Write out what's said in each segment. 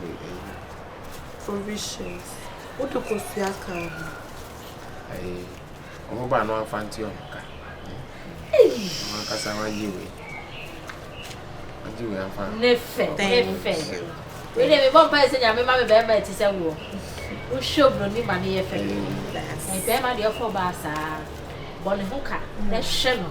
ne ayi. Provisions, wode kosua ka ho. Ayi, ɔmo ba no anfa nte ɔmo ka. Eii. Ɔmo ankasa wagye wei. Wagye wei anfa. Ne fɛ, ne fɛ. Wei de, mebɔ mpa ɛsɛ nyame ma me bɛrima ɛte sɛ woɔ. Wohwɛ obroni ma ne yɛ fɛ. Bɛrima deɛ ɔfɔ baa saa. Bɔ ne ho ka, na hwɛ no.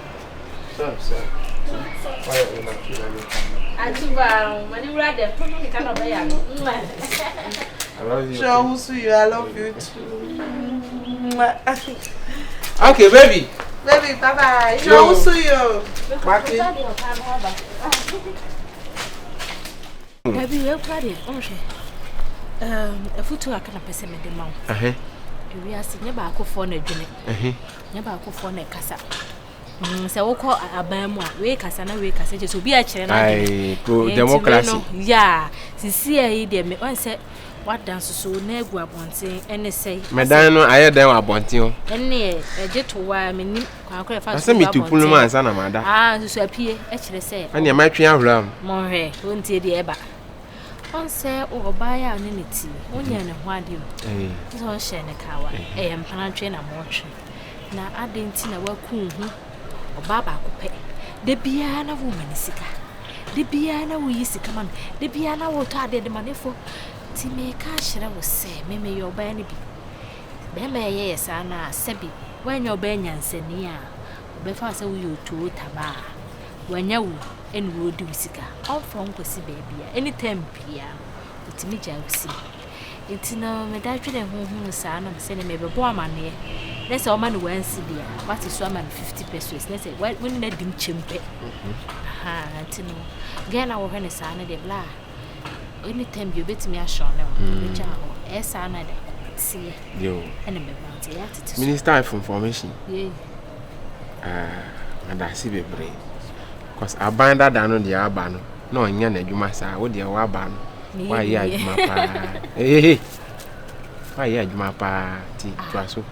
Okay, baby. Baby, bye bye. Yo. Yo. So yo. Mati. Baby, you party. Onhwe. Um, efutu akana pese me de ma wo. Eh. Ewi ase nye ba akofo na dwene. Eh. Nyɛ baakofoɔ na ɛkasa mm, sɛ wokɔ aban mu a wei kasa na wei kasa kyɛ sɛ obi akyerɛ no adwene democracy no yɛ sisi a yi deɛ me ɔn sɛ wada nsoso na agu abɔnten ɛne sɛe mɛdan no ayɛ dɛn wɔ abɔnten o ɛne ɛgye to wa menim kwankora ɛfa so wɔ abɔnten no ansa na mada aa nsoso apie ɛkyerɛ sɛ ɛne ɛma twe ahora mu mɔnhwɛ wontie deɛ ɛba ɔnsɛ o ɔbaa yɛ a ɔne ne ti wonyɛ ne ho adeɛ o sɛ ɔnhyɛ ne kawa ɛyɛ mpanatwe na mɔtwe na adɛn nti na waku ho ɔbaa baako pɛ da biara na woma ne sika da biara na woyi sika ma no da biara na wotɔ adeɛ de ma ne fo nti meka kyerɛ wo sɛ memeyɛ ɔbaa no bi bɛrima ɛyɛyɛ saa no a sɛbi woanyɛ ɔbaa nyansani a Ɔbɛfa wo sɛ woyɛ otuo tabaa a wanya wo ɛna ɔredi wo sika. Ɔmfa wo nkɔsi baabi a any time biara no ɔtumi gyae wo sika. Nti no meda dwene ho hunu saa na mesɛ ne mebɛbɔ amaneɛ na sɛ ɔma no wansi bi a wate so ama no 50 pesos na sɛ wone no adim kyɛm pɛ. Aha nti no Ghana wɔhwɛ no saa no deɛ bla a. anytime bi obetumi ahyɛw ne ho obetwa mm. hɔ ɛyɛ saa na de akɔ seɛ ɛna bɛba nti ɛyɛ atete so minister of information yei adase ah, bebree cause aban dada no deɛ aba no na ɔnyɛ n'adwuma saa wo deɛ waba no wayɛ adwuma paa ehehe wayɛ adwuma paa ti tua so.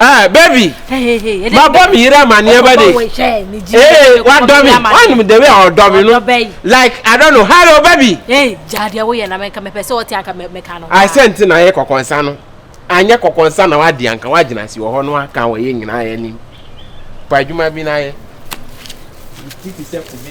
ɛɛ bɛbi mabɔ me yere amaneɛ ba de ee wadɔ me wanim the way a ɔdɔ me no like i don't know hello bɛbi. ee gya deɛ woyɛ na mɛka mɛpɛ sɛ ɔte anka mɛka no. ayi sɛ nti na ayɛ kɔkɔnsa no anyɛ kɔkɔnsa na wadi anka wagyina si wɔ hɔ no waka wɔ yɛ nyinaa yɛ nim pa adwuma bi na ayɛ. ti ti sɛ kube.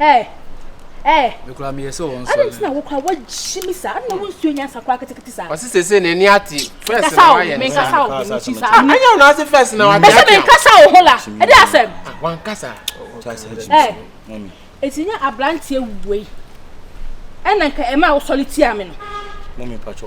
Ɛɛ ɛɛ. Mekura meyɛ sɛ wɔn nsɔre. Adan ti na wokura wagye mi saa. Adan wo nsuo nyansa kura ketekete saa. Ɔsi sese na ɛni ati. Fɛs na wayɛ ne saa. Menkasa o menkasa o ti saa. Anya wɔn ase fɛs na wagye ati. Ɛsɛ menkasa o ho la. Ɛdi asɛm. Wankasa. Ɛɛ eti nye abranteɛ wei ɛna nka ɛma awosɔre tia mi no. Mɔmi mpatsɔ.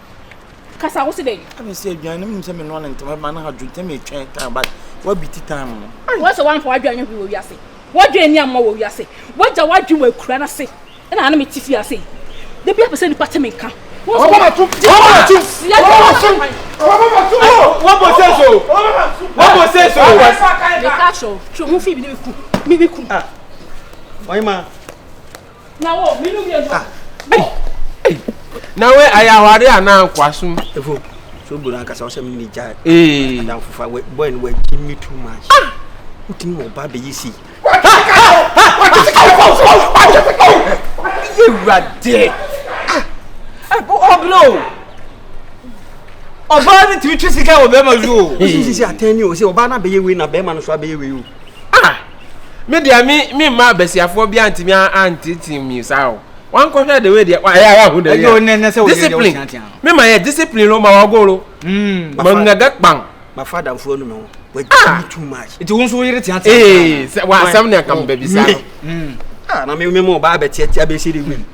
kasa wo se dɛn. ɛna sɛ aduane no menim sɛ menoa no ntɛm ɛma no adwo ntɛm ɛtwɛn time but woabiti time no wɔ sɛ woamfa w'adwene anyɛ hwee wɔ wiase w'adwene ni amma wɔ wiase woagya w'adwene wɔ akura no ase ɛna ano mete fie ase da bi apɛ sɛ nnipa te me nka wɔbɔbɔbɔtum wɔbɔbɔtum wɔbɔbɔtum wɔbɔbɔtum wɔbɔsɛ so wɔbɔsɛ so meka kyerɛ wo twɛ ho fii bi ne meku me meku ɔyema na we ayɛ aware anaa nkoasom ɛfo so bro ankasa wo sɛ me ne gya adamfofa bɔɛ no wagye me too much ah! wotumi wɔ ba bɛyɛ si yɛwurade ɔbrɛ o ɔbaa no tumi twe sika wɔ bɛrima so o sisi atɛn ni o sɛ ɔbaa no abɛyɛ wei na bɛrima no so abɛyɛ wei o Ah! Me deɛ me me mma abasiafoɔ bi antumi anteetee mi saa o. Wankɔhwɛ de wei deɛ wa ɛyɛ ara hu de wei a. Discipline. Me ma yɛ discipline lo ma wagolo. Ma ngaga kpan. Ma fa danfoɔ no me ho. Wagya me too much. Nti wo nso wo yere teatea. Ee, wa asɛm ne akambabi saa. Ah, na me me mo ba abɛteatea bɛsi de wei.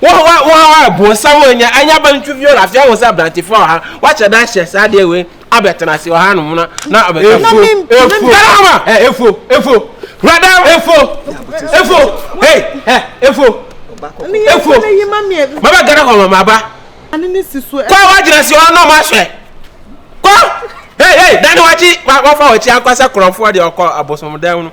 Wo wo wo ha a bonsam a anya anya ba no twi fi ɔla afei ahu sɛ aberantefoɔ wɔ ha wakyɛ da ahyɛ saa adeɛ wei abɛtena ase wɔ ha nom na na abɛka na me efuo darama ɛ efuo efuo rada efuo efuo hey ɛ efuo efuo maba gana hɔ ma maba kɔ wagyina si hɔ na ɔmo ahwɛ kɔ hey hey dani wakyi wafa wakyi ankasa korɔmfoɔ deɛ ɔkɔ abosomdan no.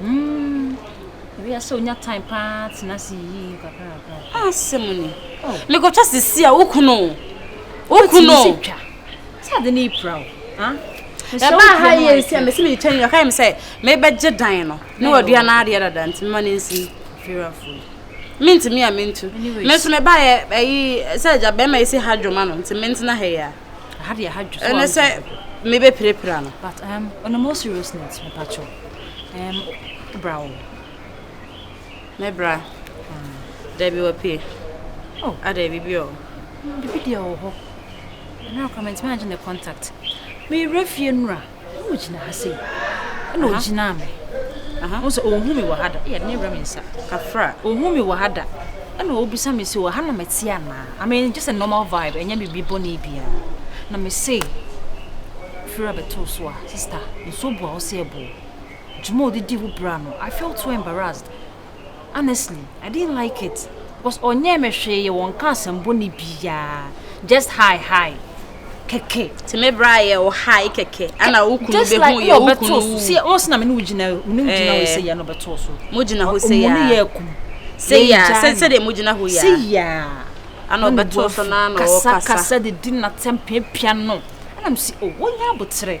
Hmm, ebi asɛ onya time paa tena se yiyim kakra kakra. Ah, asɛm ni. Oh. Mekɔtwa sisi a wokunu. Wokunu. Sɛ twa. Sɛ ade ne ipra o. Ha? Ɛba ha yɛ nsi a mesi me twɛn yɛ kae me sɛ mebɛgye dan no. Ne wadua no adeɛ dada nti mema no nsi. Firafoɔ. Mentumi a mentu. Me nso mebaeɛ ayi sɛ agya bɛrima yi si ha dwoma no nti mentena ha yi a. Aha deɛ aha dwo so. Ɛnɛ sɛ mebɛpirapira no. But um, on a more serious note, mepakyɛw. Um, bra wo. Mɛbra. Mm. Dabi wapie. Oh. Ada ah, bibi o. Mm, bibi deɛ wɔ hɔ. Ɛna akora mentumi angye ne contact. Meyerɛ fie nnura. Ɛna ɔgyina ha sei. Ɛna ɔgyinaa me. Ɔhu sɛ ɔhu me wɔ ha da. Ɛyɛ ne werɛ me nsa. Kafra. Ɔhu me wɔ ha da. Ɛna ɔbisa me sɛ, wɔ ha na mɛte anaa? I mean, just a normal vibe. Ɛnyɛ biribi bɔne biara. Na me se, firi a bɛtoo so a, sister, nsuo boa wo sɛ ɛboɔ. Dwuma a ɔde di wo bra no, I felt so embarrassed. Honestly I didn't like it cos ɔnyɛɛ me hwee wɔ nka asɛm bɔne biaa just high high kɛkɛ. Nti me bra yɛ wo high kɛkɛ ana wo kunu bɛ hu yɛ wo kunu wu. Sɛ wɔn sena me ne wo gyina me ne wo gyina hɔ sɛ yɛ no bɛtoo so. Mo gyina hɔ sɛ yɛ. Ɔmo ne yɛ akum. Sɛ yɛ sɛ sɛ deɛ mo gyina hɔ yɛ. Sɛ yɛ. Ana ɔbɛtoo so na na ɔkasa. Kasa kasa de di na tɛm pia pia no. Ana mo si o wɔn yɛ abotere.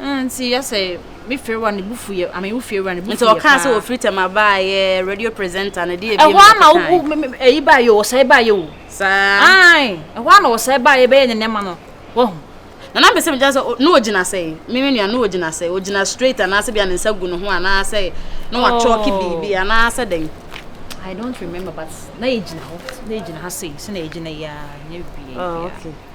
Mm, nti yɛ sɛ me fiewa ne bufu yɛ, ame wo fiewa ne bufu yɛ paa. Nti ɔkaa sɛ wɔfiri tɛm abaa yɛ radio presenter no, deɛ ebien mu na kɔkan. Ɛhɔ ama wo, ɛyi baa yɛ o, ɔsɛe baa yɛ o. Saa. Ae, ɛhɔ ana ɔsɛe baa yɛ bɛyɛ ne nɛma no, wahu. Na na mpɛ sɛ megyina sɛ, na ɔgyina sɛ, me me nua, na ɔgyina sɛ, ɔgyina straight anaasɛ bia ne nsa gu ne ho anaasɛ na wakyɔɔke biribi anaasɛ dɛn. I don't remember but na yɛgyina hɔ, na yɛgyina ha sei, sɛ na yɛgyina yɛ a, nyɛ biribiara. Oh, okay.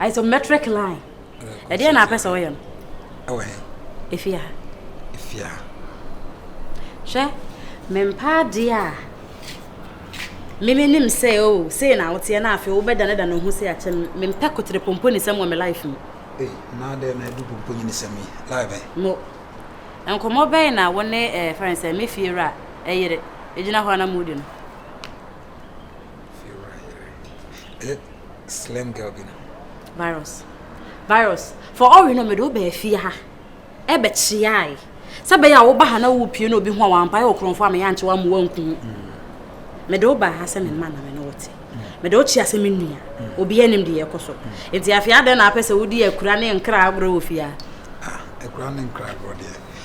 Isometric line. Ɛdeɛ na apɛ sɛ ɔyɛ no. Ɛwɔ he? Efie ha. Efie ha. Hwɛ, mempaa adeɛ a mimi nim sɛ o oh, sei na woteɛ na afei wobɛdanedane wo ho sɛ akyɛ me. Mempɛ kotere pomponinsɛm wɔ me life mu. Ei, na adɛn na ɛdu pomponinsɛm yi live ɛ? Mo, nkɔmmɔ bɛn na wo ne eh, fɛn sɛ me fie wura ɛyere eh, gyina hɔ na modi no? Slim girl bi no. Virus. Virus. For all we know, me do be fie ha. E be chiai. Sɛ bɛyɛ a woba ha na wopie na obi ho a wampae wɔ korɔmfo a meyɛ ankye wa mmoa nku ho mede wo baa ha sɛ menma na me ne wote mede wo kyea sɛ me nua obi anim de yɛkɔ so nti afei adɛn na apɛ sɛ wodi akura ne nkra agorɔ wɔ fie a akura ne nkra agorɔ deɛ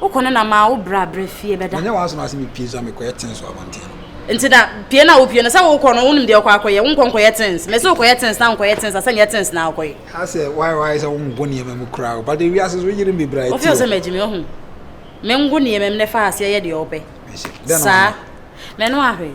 Wokɔ no na maa wo bra bra fie bɛda. Menyɛ w'asɛm ase mepue so a mekɔyɛ tins wɔ abɔnten no. Nti na pue no a wopue no sɛ wokɔ no wonim deɛ wokɔ akɔyɛ, wonkɔ nkɔyɛ tins. Mese wo kɔyɛ tins na wonkɔyɛ tins a sɛ nyɛ tins na wokɔyɛ. Asɛ why why sɛ wongo nneɛma mu koraa o but ewiase so yere me bra ti o. Wofeel sɛ magye me wahu. Mengo nneɛma mu na fa aseɛ yɛ deɛ wopɛ. Saa. Mɛno ahwɛ.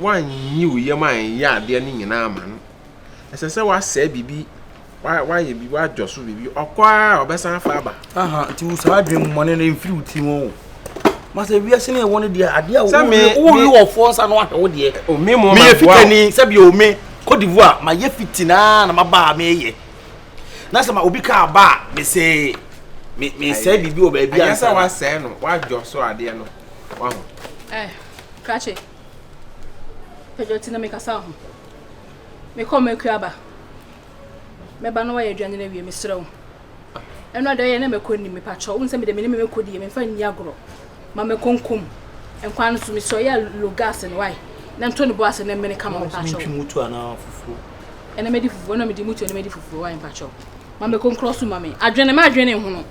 woanyi wo yam anyɛ adeɛ no nyinaa ama no ɛsɛ sɛ woasɛe biribi woayɛ biribi woadwɔ so biribi ɔkɔ a ɔbɛsan afa aba aha nti wo saa adwene mmɔne no ɛmfiri wo ti ho o masɛ wiase ne ɛwɔ no deɛ adeɛ a wowi wɔfoɔ nsa no ahwɛ wo deɛ meyɛ fitani sɛ bio me Cote d'Ivoire mayɛ fiti naa na maba a meyɛ na sɛ ma obi kaa ba a mesɛ mesɛe biribi wɔ baabi a ɛnyɛ sɛ woasɛe no woadwɔ so adeɛ no Wahu? Eh, krakye. Pedro ti na mekasa wo ho. Mekɔ makua aba. Mɛba na wayɛ aduane no awie, mesrɛ wo. Ɛno a deɛ ɔyɛ na mɛkɔ nim mepakyɛ wo nsɛ me deɛ menim mɛkɔ die memfa nni agorɔ ma mɛkɔ nkom nkwan no so mesrɛ ɔyɛ lo gas no wae na ntɔ ne bo ase na mmene kama mepakyɛ wo ɛna mɛdi fufuo ɛna mede mutuo na mɛdi fufuo wae mepakyɛ wo Ma me konkrɔ so ma me. Adwene ma adwene ne hono.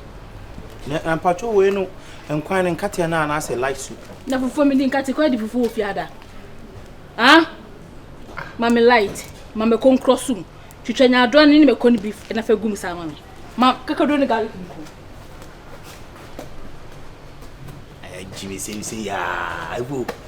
Na na mpacho wei no nkwan ne nkateɛ no anaasɛ light soup. Na fufuo mi di nkate kɔ adi fufuo wɔ fiada. Ah? Ma me light. Ma me konkrɔ so mu. Twitwa nyadoa ne ne me kɔ ne beef na fa gum saa ma me. Ma kakaduro ne garlic nko. Ayɛ gyimi sɛm sɛ yaa.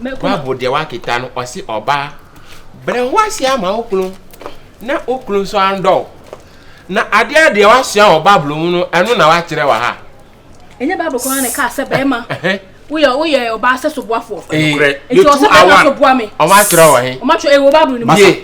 Bible deɛ wakeka no, ɔse ɔbaa, brɛ wo ase ama wo kunu na wo kunu nso andɔ wo. Na adeɛ deɛ wasua wɔ Bible mu no, ɛno na wakyerɛ wɔ ha. Ɛnyɛ Bible koraa na ɛkaa sɛ bɛrima woyɛ woyɛ ɔbaa sɛ soboafoɔ. Ɛnokorɛ, yɛtu awa, ɔmo atwerɛ wɔ he? Ɔmo atwerɛ, ɛwɔ Bible no mu.